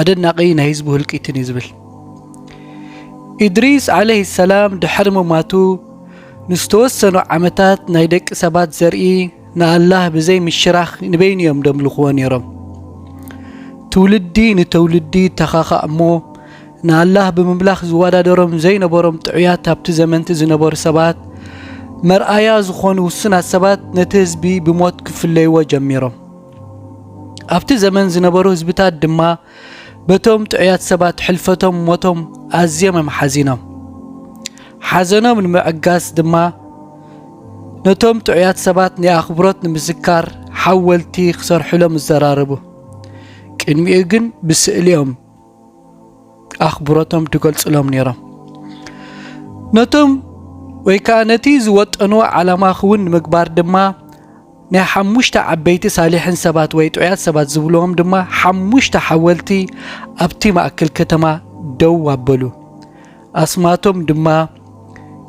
ኣደናቂ ናይ ህዝቡ ህልቂትን እዩ ዝብል። ኢድሪስ ዓለይሂ ሰላም ድሕሪ ምሟቱ ንዝተወሰኑ ዓመታት ናይ ደቂ ሰባት ዘርኢ ንኣላህ ብዘይ ምሽራኽ ንበይኑ እዮም ደምልኽዎ ነይሮም። ትውልዲ ንተውልዲ ይተኻኻእ እሞ ንኣላህ ብምምላኽ ዝወዳደሮም ዘይነበሮም ጥዑያት ኣብቲ ዘመንቲ ዝነበሩ ሰባት መርኣያ ዝኾኑ ውሱናት ሰባት ነቲ ህዝቢ ብሞት ክፍለይዎ ጀሚሮም። ኣብቲ ዘመን ዝነበሩ ህዝብታት ድማ በቶም ጥዑያት ሰባት ሕልፈቶም ሞቶም ኣዝዮም እዮም ሓዚኖም ሓዘኖም ንምዕጋስ ድማ ነቶም ጥዑያት ሰባት ናይ ኣኽብሮት ንምዝካር ሓወልቲ ክሰርሑሎም ይዘራረቡ ቅድሚኡ ግን ብስእሊኦም ኣኽብሮቶም ድገልጹሎም ነይሮም። ነቶም ወይ ከኣ ነቲ ዝወጠንዎ ዓላማ ክውን ንምግባር ድማ ናይ ሓሙሽተ ዓበይቲ ሳሊሕን ሰባት ወይ ጥዑያት ሰባት ዝብልዎም ድማ ሓሙሽተ ሓወልቲ ኣብቲ ማእከል ከተማ ደው ኣበሉ። ኣስማቶም ድማ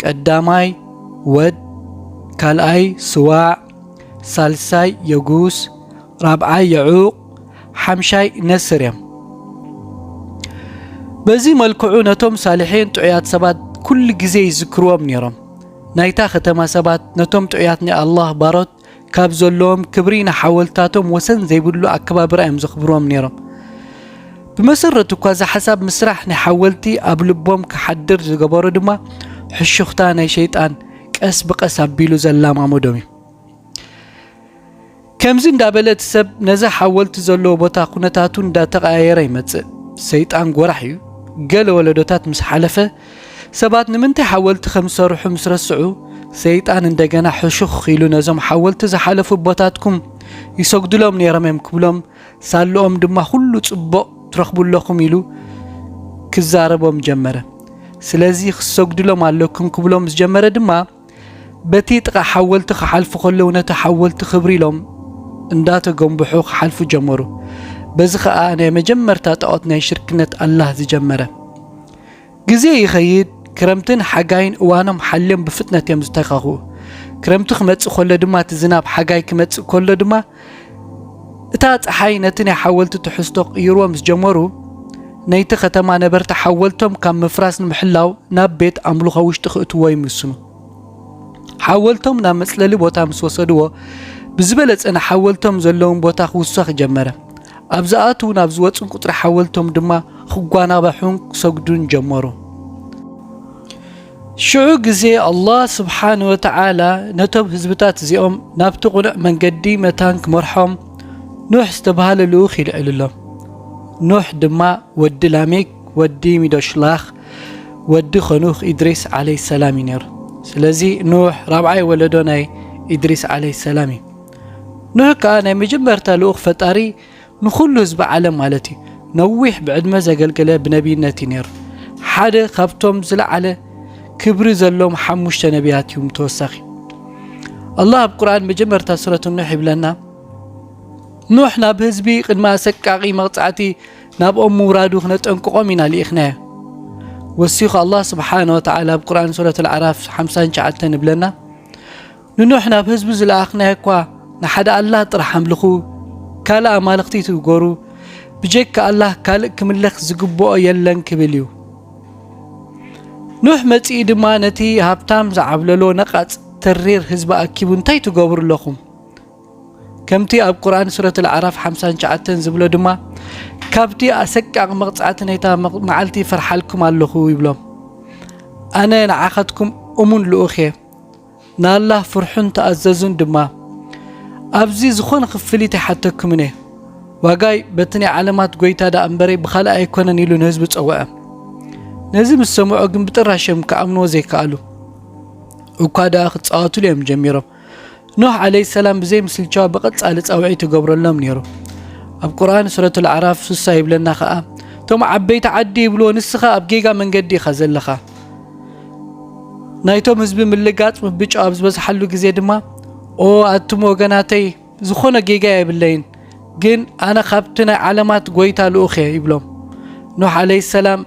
ቀዳማይ ወድ፣ ካልኣይ ስዋዕ፣ ሳልሳይ የጉስ፣ ራብዓይ የዑቕ ሓምሻይ ነስር እዮም። በዚ መልክዑ ነቶም ሳልሒን ጥዑያት ሰባት ኩሉ ግዜ ይዝክርዎም ነይሮም። ናይታ ከተማ ሰባት ነቶም ጥዑያት ናይ ኣላህ ባሮት ካብ ዘለዎም ክብሪ ንሓወልትታቶም ወሰን ዘይብሉ ኣከባብራ እዮም ዘኽብርዎም ነይሮም። ብመሰረቱ እኳ እዚ ሓሳብ ምስራሕ ናይ ሓወልቲ ኣብ ልቦም ክሓድር ዝገበሮ ድማ ሕሹኽታ ናይ ሸይጣን ቀስ ብቐስ ኣቢሉ ዘላማመዶም እዩ። ከምዚ እንዳበለ እቲ ሰብ ነዛ ሓወልቲ ዘለዎ ቦታ ኩነታቱ እንዳተቐያየረ ይመጽእ። ሰይጣን ጎራሕ እዩ። ገለ ወለዶታት ምስ ሓለፈ ሰባት ንምንታይ ሓወልቲ ከም ዝሰርሑ ምስ ረስዑ ሰይጣን እንደገና ሕሹኽ ኢሉ ነዞም ሓወልቲ ዝሓለፉ ኣቦታትኩም ይሰግዱሎም ነይሮም እዮም ክብሎም ሳልኦም ድማ ኩሉ ጽቡቕ ትረኽቡ ኣለኹም ኢሉ ክዛረቦም ጀመረ። ስለዚ ክሰግዱሎም ኣለኩም ክብሎም ዝጀመረ ድማ በቲ ጥቓ ሓወልቲ ክሓልፉ ከለዉ ነቲ ሓወልቲ ክብሪ ኢሎም እንዳተጎምብሑ ክሓልፉ ጀመሩ። በዚ ከኣ ናይ መጀመርታ ጣዖት ናይ ሽርክነት ኣላህ ዝጀመረ። ግዜ ይኸይድ፣ ክረምትን ሓጋይን እዋኖም ሓልዮም ብፍጥነት እዮም ዝተካኽኡ። ክረምቲ ክመጽእ ከሎ ድማ እቲ ዝናብ ሓጋይ ክመጽእ ከሎ ድማ እታ ፀሓይ ነቲ ናይ ሓወልቲ ትሕዝቶ ክቕይርዎ ምስ ጀመሩ ነይቲ ኸተማ ነበርቲ ሓወልቶም ካብ ምፍራስ ንምሕላው ናብ ቤት ኣምልኾ ውሽጢ ክእትዎ ይምስኑ ሓወልቶም ናብ መፅለሊ ቦታ ምስ ወሰድዎ ብዝበለፀ ንሓወልቶም ዘለውን ቦታ ክውሰኽ ጀመረ ኣብ ዝኣትው ናብ ዝወፅን ቁፅሪ ሓወልቶም ድማ ክጓናባሑን ክሰግዱን ጀመሩ ሽዑ ግዜ ኣላህ ስብሓን ወተዓላ ነቶም ህዝብታት እዚኦም ናብቲ ቕኑዕ መንገዲ መታን ክመርሖም ኑሕ ዝተብሃለ ልኡኽ ይልዕልሎም። ኑሕ ድማ ወዲ ላሜክ ወዲ ሚዶሽላኽ ወዲ ኸኑኽ ኢድሪስ ዓለይ ሰላም እዩ ነይሩ። ስለዚ ኑሕ ራብዓይ ወለዶ ናይ ኢድሪስ ዓለይ ሰላም እዩ። ኑሕ ከኣ ናይ መጀመርታ ልኡኽ ፈጣሪ ንኹሉ ህዝቢ ዓለም ማለት እዩ። ነዊሕ ብዕድመ ዘገልገለ ብነቢይነት እዩ ነይሩ። ሓደ ካብቶም ዝለዓለ ክብሪ ዘሎም ሓሙሽተ ነቢያት እዩም ተወሳኺ ኣላ ኣብ ቁርን መጀመርታ ሱረት ኖሕ ይብለና ኖሕ ናብ ህዝቢ ቅድሚ ኣሰቃቂ መቕፃዕቲ ናብኦም ምውራዱ ክነጠንቅቖም ኢና ልኢኽናዮ ወሲኹ ኣላ ስብሓን ወተላ ኣብ ቁርን ሱረት ልዓራፍ ሓ9 ይብለና ንኖኅ ናብ ህዝቡ ዝለኣኽናዮ እኳ ንሓደ ኣላህ ጥራሕ ኣምልኹ፣ ካልእ ኣማልኽቲ እትግበሩ፣ ብጀካ ኣላህ ካልእ ክምለኽ ዝግብኦ የለን ክብል እዩ። ኖኅ መጺኡ ድማ ነቲ ሃብታም ዝዓብለሎ ነቓጽ ተሪር ህዝቢ ኣኪቡ እንታይ ትገብሩ ኣለኹም? ከምቲ ኣብ ቁርኣን ሱረት ኣልኣዕራፍ ሓምሳን ትሽዓተን ዝብሎ ድማ ካብቲ ኣሰቃቒ መቕጻዕቲ ናይታ መዓልቲ ይፈርሓልኩም ኣለኹ ይብሎም። ኣነ ንዓኻትኩም እሙን ልኡኽ እየ፣ ንኣላህ ፍርሑን ተኣዘዙን ድማ። ኣብዚ ዝኾነ ክፍሊት ኣይሓተኩምን እየ፣ ዋጋይ በቲ ናይ ዓለማት ጎይታ ደኣ እምበረይ ብኻልእ ኣይኮነን ኢሉ ንህዝቢ ጸውዐ። ነዚ ምስ ሰምዑ ግን ብጥራሽ እዮም ክኣምንዎ ዘይከኣሉ። እኳ ደኣ ክጻወትሉ እዮም ጀሚሮም። ኖህ ዓለይ ሰላም ብዘይ ምስልቻው ብቐጻሊ ጻውዒት ይገብረሎም ነይሩ። ኣብ ቁርኣን ሱረት ኣልኣዕራፍ ስሳ ይብለና ከኣ እቶም ዓበይቲ ዓዲ ይብልዎ ንስኻ ኣብ ጌጋ መንገዲ ኢኻ ዘለኻ ናይቶም ህዝቢ ምልጋጽ ምብጮ ኣብ ዝበዝሓሉ ግዜ ድማ ኦ ኣቱም ወገናተይ ዝኾነ ጌጋ የብለይን ግን ኣነ ካብቲ ናይ ዓለማት ጎይታ ልኡኽ እየ ይብሎም ኖሕ ዓለይ ሰላም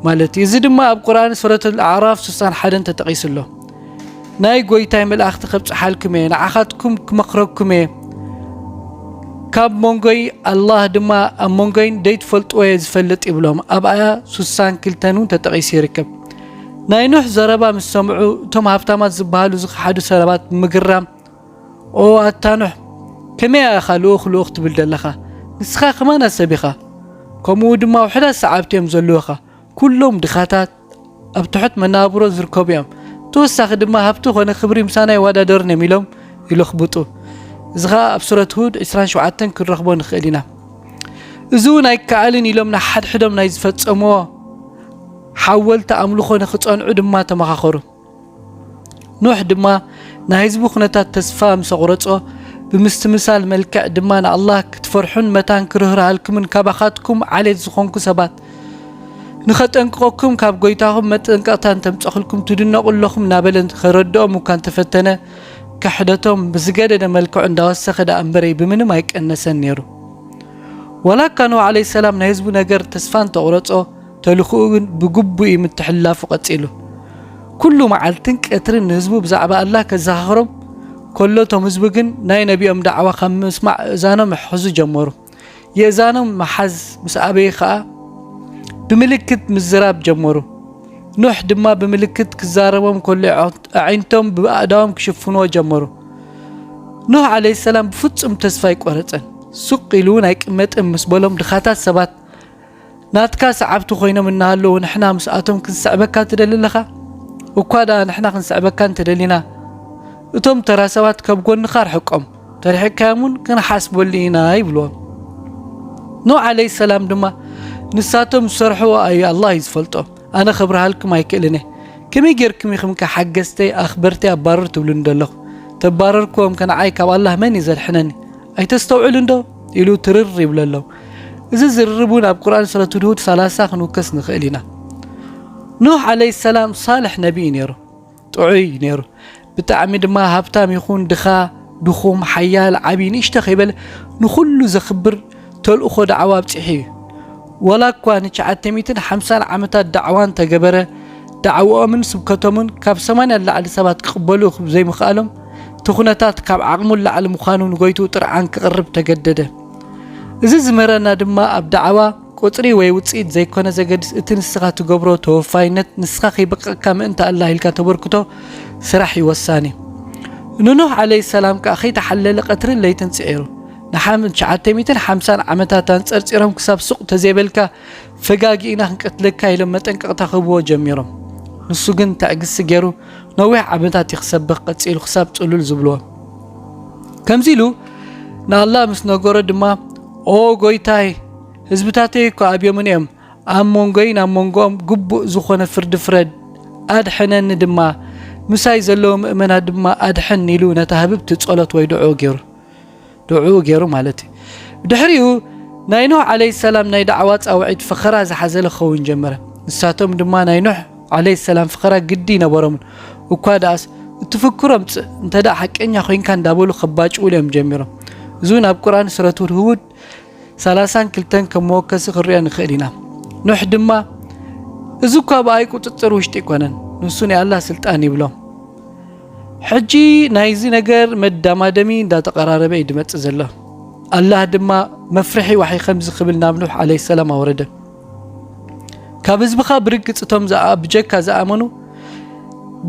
ማለት እዩ እዚ ድማ ኣብ ቁርን ሱረት ኣዕራፍ ስሳን ሓደን ተጠቒሱ ኣሎ ናይ ጐይታይ መላእኽቲ ከብጽሓልኩም እየ፣ ንዓኻትኩም ክመኽረኩም እየ፣ ካብ መንጎይ ኣላህ ድማ ኣብ መንጎይን ዘይትፈልጥዎ እየ ዝፈልጥ ይብሎም። ኣብ ኣያ ሱሳን ክልተን እውን ተጠቒሱ ይርከብ። ናይ ኑሕ ዘረባ ምስ ሰምዑ እቶም ሃብታማት ዝበሃሉ ዝኸሓዱ ሰረባት ብምግራም ኦ ኣታ ኑሕ ከመይ ኣኻ ልኡኽ ልኡኽ ትብል ዘለኻ ንስኻ ከማና ሰብ ኢኻ ከምኡ ድማ ውሕዳት ሰዓብቲ እዮም ዘለዉኻ ኩሎም ድኻታት ኣብ ትሑት መነባብሮ ዝርከቡ እዮም። ብተወሳኺ ድማ ሃብቲ ኮነ ክብሪ ምሳና ይወዳደሩን እዮም ኢሎም ይለኽብጡ። እዚ ኸኣ ኣብ ሱረት ሁድ ዕስራን ሸውዓተን ክንረኽቦ ንኽእል ኢና። እዚ እውን ኣይከኣልን ኢሎም ንሓድሕዶም ናይ ዝፈጸምዎ ሓወልቲ ኣምልኾ ንኽጸንዑ ድማ ተመኻኸሩ። ኖህ ድማ ናይ ህዝቢ ኩነታት ተስፋ ምስ ኣቑረጾ ብምስትምሳል መልክዕ ድማ ንኣላህ ክትፈርሑን መታን ክርህርሃልኩምን ካባኻትኩም ዓሌት ዝኾንኩ ሰባት ንኸጠንቅቐኩም ካብ ጎይታኹም መጠንቀቕታ እንተምፀኽልኩም ትድነቑ ኣለኹም እናበለ ከረድኦም እኳ እንተፈተነ ክሕደቶም ብዝገደደ መልክዑ እንዳወሰኸ ደኣ እምበረይ ብምንም ኣይቀነሰን ነይሩ ወላ እካ ኖህ ዓለይ ሰላም ናይ ህዝቡ ነገር ተስፋ እንተቑረጾ ተልእኾኡ ግን ብግቡእ እዩ ምትሕልላፉ ቀጺሉ። ኩሉ መዓልትን ቀትርን ንህዝቡ ብዛዕባ ኣላህ ከዘኻኽሮም ከሎ እቶም ህዝቢ ግን ናይ ነቢኦም ዳዕዋ ካብ ምስማዕ እእዛኖም ይሕሕዙ ጀመሩ። የእዛኖም ምሓዝ ምስ ኣበዩ ከኣ ብምልክት ምዝራብ ጀመሩ። ኑሕ ድማ ብምልክት ክዛረቦም ከሎ ኣዒንቶም ብኣእዳዎም ክሽፍንዎ ጀመሩ። ኑህ ዓለይሂ ሰላም ብፍጹም ተስፋ ኣይቈረጸን። ሱቕ ኢሉ እውን ኣይቅመጥን ምስ በሎም ድኻታት ሰባት ናትካ ሰዓብቲ ኮይኖም እናሃለዉ ንሕና ምስኣቶም ክንስዕበካ ትደሊ ኣለኻ? እኳ ደኣ ንሕና ክንስዕበካ እንተደሊና እቶም ተራ ሰባት ካብ ጎንኻ ኣርሕቆም፣ ተርሒቅካዮም እውን ክንሓስበሉ ኢና ይብልዎም። ኖህ ዓለይ ሰላም ድማ ንሳቶም ዝሰርሕዎ ኣዩ ኣላህ እዩ ዝፈልጦ ኣነ ከብርሃልኩም ኣይክእልን እየ ከመይ ጌርኩም ኢኹም ከ ሓገዝተይ ኣኽበርተይ ኣባርር ትብሉኒ ደለኹ ተባረርክዎም ከ ንዓይ ካብ ኣላህ መን እዩ ዘድሕነኒ ኣይተስተውዕልን ዶ ኢሉ ትርር ይብለሎም እዚ ዝርርብ እውን ኣብ ቁርን ሱረት ሁድሁድ ሰላሳ ክንውከስ ንኽእል ኢና ኖህ ዓለይ ሰላም ሳልሕ ነቢ እዩ ነይሩ ጥዑይ እዩ ነይሩ ብጣዕሚ ድማ ሃብታም ይኹን ድኻ ድኹም ሓያል ዓብዪ ንእሽተ ከይበለ ንኹሉ ዘኽብር ተልእኾ ዳዕዋ ኣብፂሑ እዩ ወላ እኳ ንትሽዓተ ሚእትን ሓምሳን ዓመታት ዳዕዋን ተገበረ ዳዕዋኦምን ስብከቶምን ካብ ሰማንያ ላዕሊ ሰባት ክቕበሉ ዘይምኽኣሎም እቲ ኩነታት ካብ ዓቕሙ ላዕሊ ምዃኑ ንጎይቱ ጥርዓን ክቕርብ ተገደደ እዚ ዝመረና ድማ ኣብ ዳዕዋ ቁጽሪ ወይ ውጽኢት ዘይኮነ ዘገድስ እቲ ንስኻ ትገብሮ ተወፋይነት ንስኻ ከይበቀቅካ ምእንቲ ኣላህ ኢልካ ተበርክቶ ስራሕ እዩ ወሳኒ። ንኖህ ዓለይ ሰላም ከኣ ከይተሓለለ ቀትርን ለይትን ጽዒሩ ንሓም ትሽዓተ ሚእትን ሓምሳን ዓመታት ኣንጸርጺሮም ክሳብ ሱቅ ተዘይበልካ ፈጋጊእና ክንቀትለካ ኢሎም መጠንቀቅታ ክህብዎ ጀሚሮም ንሱ ግን ተዕግስቲ ገይሩ ነዊሕ ዓመታት እዩ ክሰብኽ ቀጺሉ ክሳብ ጽሉል ዝብልዎ ከምዚ ኢሉ ንኣላ ምስ ነገሮ ድማ ኦ ጐይታይ ህዝብታተይ እኳ ኣብዮምን እዮም ኣብ መንጎይን ኣብ መንጎኦም ግቡእ ዝኾነ ፍርዲ ፍረድ ኣድሕነኒ ድማ ምሳይ ዘለዉ ምእመናት ድማ ኣድሕን ኢሉ ነታ ህብብቲ ጸሎት ወይ ድዑ ገይሩ ድዑ ገይሩ ማለት እዩ ብድሕሪኡ ናይ ኖህ ዓለይ ሰላም ናይ ዳዕዋ ጻውዒት ፈኸራ ዝሓዘለ ክኸውን ጀመረ ንሳቶም ድማ ናይ ኖህ ዓለይ ሰላም ፍኸራ ግዲ ይነበሮምን እኳ ድኣስ እቲ ፍክሮ ምጽእ እንተ ሓቀኛ ኮይንካ እንዳበሉ ከባጭውሉ እዮም ጀሚሮም እዚ እውን ኣብ ቁርን ስረቱ ህውድ ሰላሳን ክልተን ከም መወከሲ ክንሪኦ ንኽእል ኢና ኖሕ ድማ እዚ እኳ ብኣይ ቁፅፅር ውሽጢ ኣይኮነን ንሱ ናይ ኣላ ስልጣን ይብሎም ሕጂ ናይዚ ነገር መዳማደሚ እንዳተቐራረበ እዩ ድመፅእ ዘሎ ኣላህ ድማ መፍርሒ ዋሕይ ከምዚ ክብል ናብ ኑሕ ዓለይ ሰላም ኣወረደ ካብ ህዝብኻ ብርግጽ እቶም ዝኣ ብጀካ ዝኣመኑ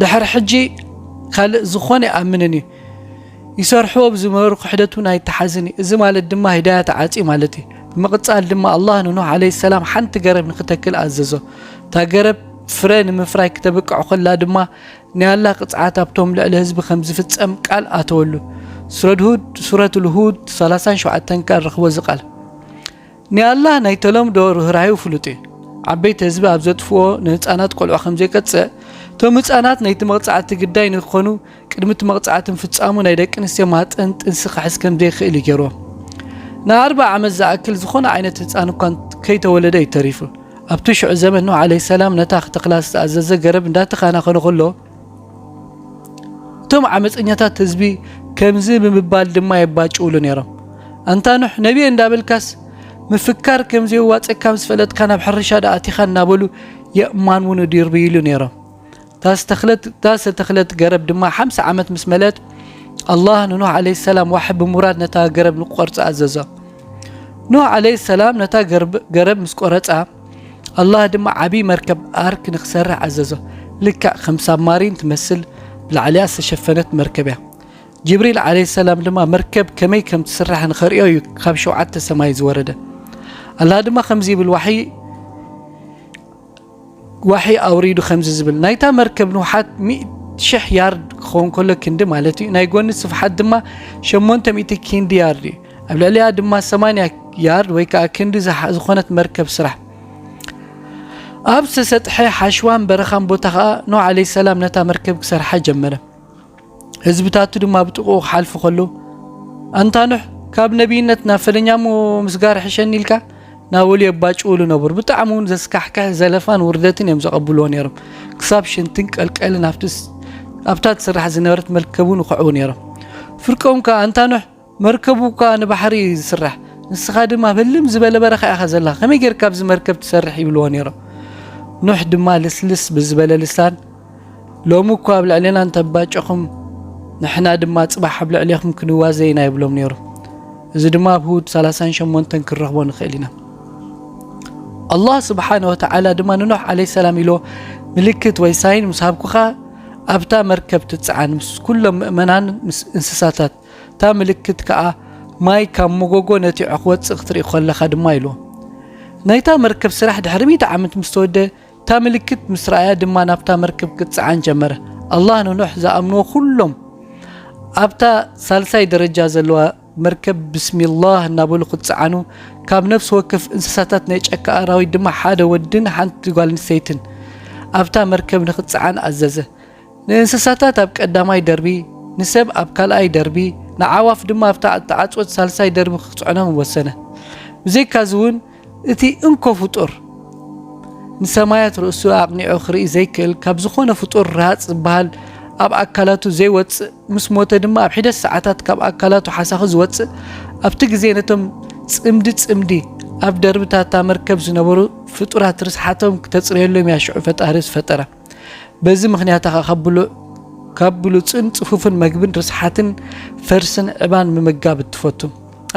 ድሕሪ ሕጂ ካልእ ዝኾነ ይኣምንን እዩ ይሰርሕዎ ብዝመሩ ክሕደት እውን ኣይተሓዝን እዩ እዚ ማለት ድማ ሂዳያ ተዓፅዩ ማለት እዩ ብምቕፃል ድማ ኣላህ ንኑህ ዓለ ሰላም ሓንቲ ገረብ ንክተክል ኣዘዞ እታ ገረብ ፍረ ንምፍራይ ክተብቅዕ ኮላ ድማ ናይ ኣላ ቅፅዓት ኣብቶም ልዕሊ ህዝቢ ከም ዝፍፀም ቃል ኣተወሉ ሱረት ሁድ ሱረት ልሁድ 37 ቃል ረኽቦ እዚ ቃል ናይ ኣላህ ናይ ተለምዶ ርህራሄኡ ፍሉጥ እዩ። ዓበይቲ ህዝቢ ኣብ ዘጥፍዎ ንህጻናት ቆልዑ ከም ዘይቀጽዕ፣ እቶም ህጻናት ናይቲ መቕጻዕቲ ግዳይ ንክኾኑ ቅድሚ እቲ መቕጻዕቲ ምፍጻሙ ናይ ደቂ ኣንስትዮ ማህጸን ጥንሲ ክሕዝ ከም ዘይክእል እዩ ገይርዎም። ንኣርብዓ ዓመት ዝኣክል ዝኾነ ዓይነት ህጻን እኳ ከይተወለደ እዩ ተሪፉ። ኣብቲ ሽዑ ዘመን ኖህ ዓለይሂ ሰላም ነታ ክተኽላ ዝተኣዘዘ ገረብ እንዳተኻናኸኖ ከሎ፣ እቶም ዓመፀኛታት ህዝቢ ከምዚ ብምባል ድማ የባጭውሉ ነይሮም ኣንታ ኖሕ ነቢየ እንዳበልካስ ምፍካር ከም ዘየዋፀካ ምስ ፈለጥካ ናብ ሕርሻ ደኣቲኻ እናበሉ የእማን እውን እድርብይሉ ነይሮም እታ ዝተተኽለት ገረብ ድማ ሓምሳ ዓመት ምስ መለት ኣላህ ንኖህ ዓለ ሰላም ዋሕ ብምውራድ ነታ ገረብ ንቁቆርፃ ኣዘዞ ኖህ ዓለ ሰላም ነታ ገረብ ምስ ቆረፃ ኣላህ ድማ ዓብዪ መርከብ ኣርክ ንክሰርሕ ኣዘዞ። ልክዕ ከም ሳብማሪን ትመስል ብላዕሊኣ ዝተሸፈነት መርከብ እያ። ጅብሪል ዓለይሂ ሰላም ድማ መርከብ ከመይ ከም ትስራሕ ንኸርእዮ እዩ ካብ ሸውዓተ ሰማይ ዝወረደ። ኣላህ ድማ ከምዚ ይብል ዋሕይ ዋሕይ ኣውሪዱ ከምዚ ዝብል ናይታ መርከብ ንውሓት ሚእቲ ሽሕ ያርድ ክኸውን ከሎ ክንዲ ማለት እዩ። ናይ ጎኒ ስፍሓት ድማ ሸሞንተ ሚእቲ ክንዲ ያርድ እዩ። ኣብ ልዕሊኣ ድማ ሰማንያ ያርድ ወይ ከዓ ክንዲ ዝኾነት መርከብ ስራሕ ኣብ ዝተሰጥሐ ሓሽዋን በረኻን ቦታ ከዓ ኖህ ዓለይ ሰላም ነታ መርከብ ክሰርሓ ጀመረ ህዝብታቱ ድማ ብጥቕኡ ክሓልፉ ከለዉ ኣንታ ኖሕ ካብ ነቢይነት ናብ ፈለኛሞ ምስጋር ሕሸኒ ኢልካ ናበሉ የባጭውሉ ነበሩ ብጣዕሚ እውን ዘስካሕክሕ ዘለፋን ውርደትን እዮም ዘቐብልዎ ነይሮም ክሳብ ሽንትን ቀልቀልን ኣብታ ትስራሕ ዝነበረት መርከብ እውን ይኽዕቡ ነይሮም ፍርቆም ከዓ ኣንታ ኖሕ መርከቡ እኳ ንባሕሪ እዩ ዝስራሕ ንስኻ ድማ ኣብ ህልም ዝበለ በረኻ ኢኻ ዘለኻ ከመይ ጌርካ ኣብዚ መርከብ ትሰርሕ ይብልዎ ነይሮም ኑሕ ድማ ልስልስ ብዝበለ ልሳን ሎሚ እኳ ኣብ ልዕሌና እንተባጨኹም ንሕና ድማ ጽባሕ ኣብ ልዕሌኹም ክንዋዘ ኢና ይብሎም ነይሩ እዚ ድማ ኣብ ህውድ 38 ክንረኽቦ ንኽእል ኢና ኣላህ ስብሓነ ወተዓላ ድማ ንኖሕ ዓለይ ሰላም ኢሎ ምልክት ወይ ሳይን ምስ ሃብኩኻ ኣብታ መርከብ ትፅዓን ምስ ኩሎም ምእመናን ምስ እንስሳታት እታ ምልክት ከኣ ማይ ካብ መጎጎ ነቲዑ ክወጽእ ክትርኢ ኮለኻ ድማ ኢሉ። ናይታ መርከብ ስራሕ ድሕሪ ሚእቲ ዓመት ምስ ተወደ እታ ምልክት ምስ ረኣያ ድማ ናብታ መርከብ ክጽዓን ጀመረ ኣላህ ንኖሕ ዝኣምንዎ ኩሎም ኣብታ ሳልሳይ ደረጃ ዘለዋ መርከብ ብስሚላህ እናበሉ ክጽዓኑ ካብ ነፍሲ ወከፍ እንስሳታት ናይ ጨካ ኣራዊት ድማ ሓደ ወድን ሓንቲ ጓል ኣንስተይትን ኣብታ መርከብ ንክጽዓን ኣዘዘ ንእንስሳታት ኣብ ቀዳማይ ደርቢ፣ ንሰብ ኣብ ካልኣይ ደርቢ፣ ንኣዕዋፍ ድማ ኣብታ እተዓጽወት ሳልሳይ ደርቢ ኽጽዕኖም ወሰነ። ብዘይካዚውን እቲ እንኮ ፍጡር፣ ንሰማያት ርእሱ ኣቕኒዑ ኽርኢ ዘይክእል፣ ካብ ዝዀነ ፍጡር ርሃጽ ዚብሃል ኣብ ኣካላቱ ዘይወጽእ፣ ምስ ሞተ ድማ ኣብ ሒደት ሰዓታት ካብ ኣካላቱ ሓሳኺ ዚወጽእ፣ ኣብቲ ግዜ ነቶም ጽምዲ ጽምዲ ኣብ ደርብታት'ታ መርከብ ዝነበሩ ፍጡራት ርስሓቶም ክተጽርየሎም እያ ሽዑ ፈጣሪ ዝፈጠራ። በዚ ምክንያት ኸ ካብ ብሉዕ ካብ ብሉጽን ጽፉፍን መግብን ርስሓትን ፈርስን ዕባን ምምጋብ እትፈቱ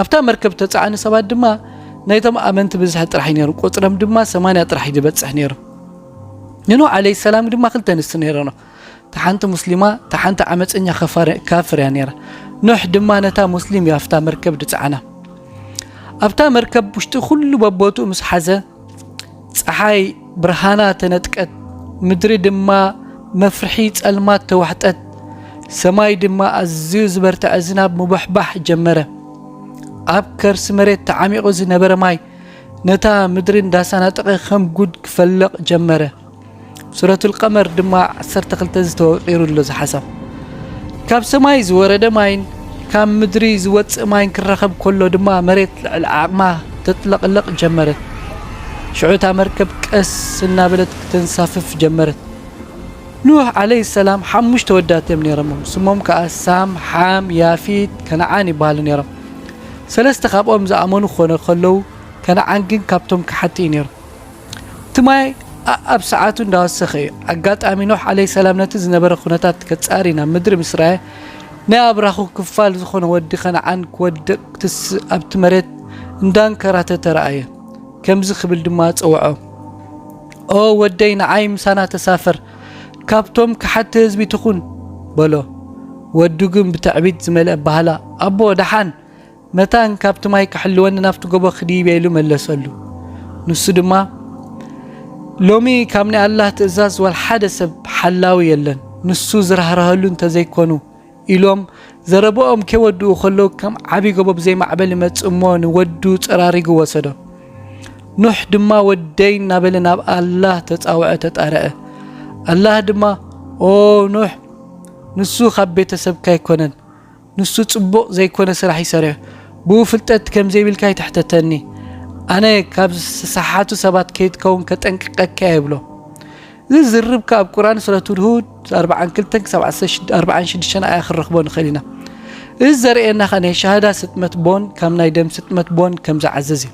ኣብታ መርከብ ተጻዕኒ ሰባት ድማ ናይቶም ኣመንቲ ብዝሒ ጥራሕ ነይሩ ቁጽሮም ድማ ሰማንያ ጥራሕ ዝበጽሕ ነይሩ ንኖ ዓለይ ሰላም ድማ ክልተ ንስ ነይረኖ እቲ ሓንቲ ሙስሊማ እቲ ሓንቲ ዓመፀኛ ካፍር እያ ነይራ ኖሕ ድማ ነታ ሙስሊም እያ ኣብታ መርከብ ድፃዕና ኣብታ መርከብ ውሽጢ ኩሉ በቦትኡ ምስ ሓዘ ፀሓይ ብርሃና ተነጥቀት፣ ምድሪ ድማ መፍርሒ ጸልማት ተዋሕጠት፣ ሰማይ ድማ ኣዝዩ ዝበርትዐ ዝናብ ምቡሕባሕ ጀመረ። ኣብ ከርሲ መሬት ተዓሚቑ ዝነበረ ማይ ነታ ምድሪ እንዳሳናጠቐ ከም ጉድ ክፈልቕ ጀመረ። ሱረቱል ቀመር ድማ ዓሰርተ ክልተ ዝተወቂሩ ኣሎ እዚ ሓሳብ ካብ ሰማይ ዝወረደ ማይን ካብ ምድሪ ዝወፅእ ማይን ክራኸብ ከሎ ድማ መሬት ልዕሊ ዓቕማ ተጥለቕለቕ ጀመረት ሽዑ እታ መርከብ ቀስ እናበለት ክተንሳፍፍ ጀመረት ኑህ ዓለይ ሰላም ሓሙሽተ ወዳት እዮም ነይሮም ስሞም ከዓ ሳም ሓም ያፊት ከነዓን ይበሃሉ ነይሮም ሰለስተ ካብኦም ዝኣመኑ ክኾነ ከለዉ ከነዓን ግን ካብቶም ክሓቲ እዩ ነይሩ እቲ ማይ ኣኣብ ሰዓቱ እንዳወሰኸ እዩ። ኣጋጣሚ ኖህ ዓለይ ሰላም ነቲ ዝነበረ ኩነታት ከጻሪ ናብ ምድሪ ምስ ረኣየ ናይ ኣብራኹ ክፋል ዝኾነ ወዲ ከነዓን ክወድቕ ትስ ኣብቲ መሬት እንዳንከራተተ ረኣየ። ከምዚ ክብል ድማ ጸውዖ ኦ ወደይ ንዓይ ምሳና ተሳፈር ካብቶም ከሓድቲ ህዝቢ ትኹን በሎ። ወዱ ግን ብትዕቢት ዝመልአ ኣበሃህላ ኣቦ ደሓን መታን ካብቲ ማይ ክሕልወኒ ናብቲ ጎቦ ክድይብ እየ ኢሉ መለሰሉ። ንሱ ድማ ሎሚ ካብ ናይ ኣላህ ትእዛዝ ወልሓደ ሰብ ሓላዊ የለን ንሱ ዝራህራሀሉ እንተዘይኮኑ ኢሎም ዘረበኦም ከይወድኡ ከለዉ ከም ዓብዪ ጎቦ ብዘይ ማዕበል ይመጽእ እሞ ንወዱ ጸራሪጉ ወሰዶ። ኑሕ ድማ ወደይ እናበለ ናብ ኣላህ ተጻውዐ ተጣረዐ። ኣላህ ድማ ኦ ኑሕ ንሱ ካብ ቤተሰብካ ኣይኮነን ንሱ ጽቡቅ ዘይኮነ ስራሕ ዩ ሰሪሑ ብኡ ፍልጠት ከምዘይብልካ ኣይትሕተተኒ ኣነ ካብ ዝሰሓቱ ሰባት ከይትከውን ከጠንቅቀካ እየ ይብሎ እዚ ዝርብ ከኣ ኣብ ቁርኣን ሱረቱል ሁድ ኣርብዓን ክልተን ክሳብ ዓሰርተ ሽድ- ኣርብዓን ሽዱሽተን ኣያ ክንረኽቦ ንኽእል ኢና እዚ ዘርእየና ከኣ ናይ ሸሃዳ ስጥመት ቦን ካብ ናይ ደም ስጥመት ቦን ከምዝዓዝዝ እዩ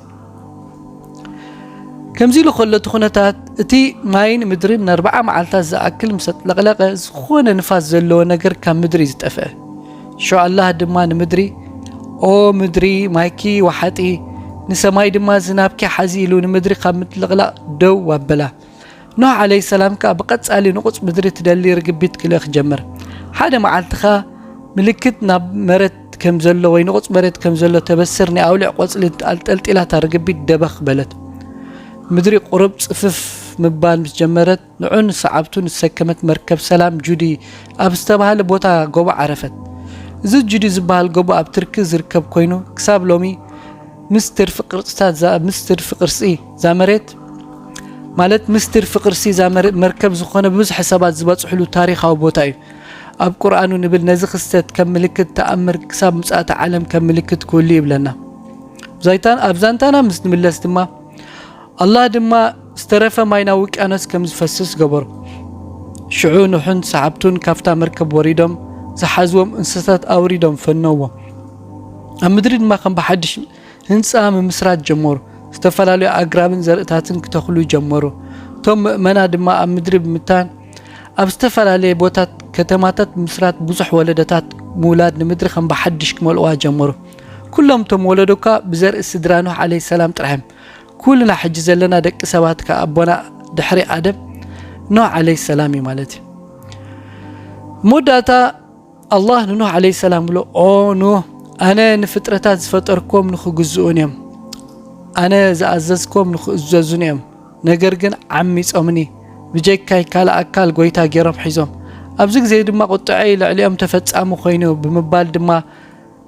ከምዚ ኢሉ ከሎ እቲ ኩነታት እቲ ማይን ምድርን ንኣርባዓ መዓልታት ዝኣክል ምስ ኣጥለቕለቐ ዝኾነ ንፋስ ዘለዎ ነገር ካብ ምድሪ ዝጠፍአ ሸኣላህ ድማ ንምድሪ ኦ ምድሪ ማይኪ ወሓጢ ንሰማይ ድማ ዝናብኪ ሓዚ ኢሉ ንምድሪ ካብ ምጥልቕላቕ ደው ኣበላ ኖህ ዓለይ ሰላም ከኣ ብቐጻሊ ንቑጽ ምድሪ ትደሊ ርግቢት ክልእኽ ጀመር። ሓደ መዓልቲ ከኣ ምልክት ናብ መረት ከም ዘሎ ወይ ንቑጽ መረት ከም ዘሎ ተበስር ናይ ኣውልዕ ቆጽሊ ኣንጠልጢላ እታ ርግቢት ደበኽ በለት። ምድሪ ቁሩብ ጽፍፍ ምባል ምስ ጀመረት ንዑን ሰዓብቱን ዝሰከመት መርከብ ሰላም ጁዲ ኣብ ዝተባህለ ቦታ ጎቦ ዓረፈት። እዚ ጁዲ ዝበሃል ጎቦ ኣብ ትርኪ ዝርከብ ኮይኑ ክሳብ ሎሚ ምስ ትርፊ ቅርጽታት ምስ ትርፊ ቅርጺ እዛ መሬት ማለት ምስጢር ፍቅርሲ እዛ መርከብ ዝኾነ ብብዝሒ ሰባት ዝበጽሕሉ ታሪኻዊ ቦታ እዩ። ኣብ ቁርኣኑ ንብል ነዚ ክስተት ከም ምልክት ተኣምር ክሳብ ምጽኣተ ዓለም ከም ምልክት ክህሉ ይብለና። ኣብ ዛንታና ምስ ንምለስ ድማ ኣላህ ድማ ዝተረፈ ማይ ናብ ውቅያኖስ ከም ዝፈስስ ገበሩ። ሽዑ ኑሕን ሰዓብቱን ካብታ መርከብ ወሪዶም ዝሓዝዎም እንስሳታት ኣውሪዶም ፈነዎም። ኣብ ምድሪ ድማ ከም ብሓድሽ ህንጻ ምምስራት ጀመሩ። ዝተፈላለዩ ኣግራብን ዘርእታትን ክተኽሉ ጀመሩ። እቶም ምእመና ድማ ኣብ ምድሪ ብምታን ኣብ ዝተፈላለየ ቦታት ከተማታት ምስራት ብዙሕ ወለደታት ምውላድ ንምድሪ ከም ብሓድሽ ክመልእዋ ጀመሩ። ኩሎም እቶም ወለዶ እኳ ብዘርኢ ስድራ ኖህ ዓለይ ሰላም ጥራሕም ኩልና ሕጂ ዘለና ደቂ ሰባት ከ ኣቦና ድሕሪ ኣደም ኖህ ዓለይ ሰላም እዩ ማለት እዩ መወዳእታ ኣላህ ንኖህ ዓለይሰላም ብሎ፣ ኦ ኖህ! ኣነ ንፍጥረታት ዝፈጠርክዎም ንኽግዝኡኒ እዮም። ኣነ ዝኣዘዝክዎም ንኽእዘዙኒ እዮም። ነገር ግን ዓሚጾምኒ፣ ብጀካይ ካልእ ኣካል ጐይታ ገይሮም ሒዞም። ኣብዚ ግዜ ድማ ቍጥዐይ ልዕሊኦም ተፈጻሚ ኰይኑ ብምባል ድማ፣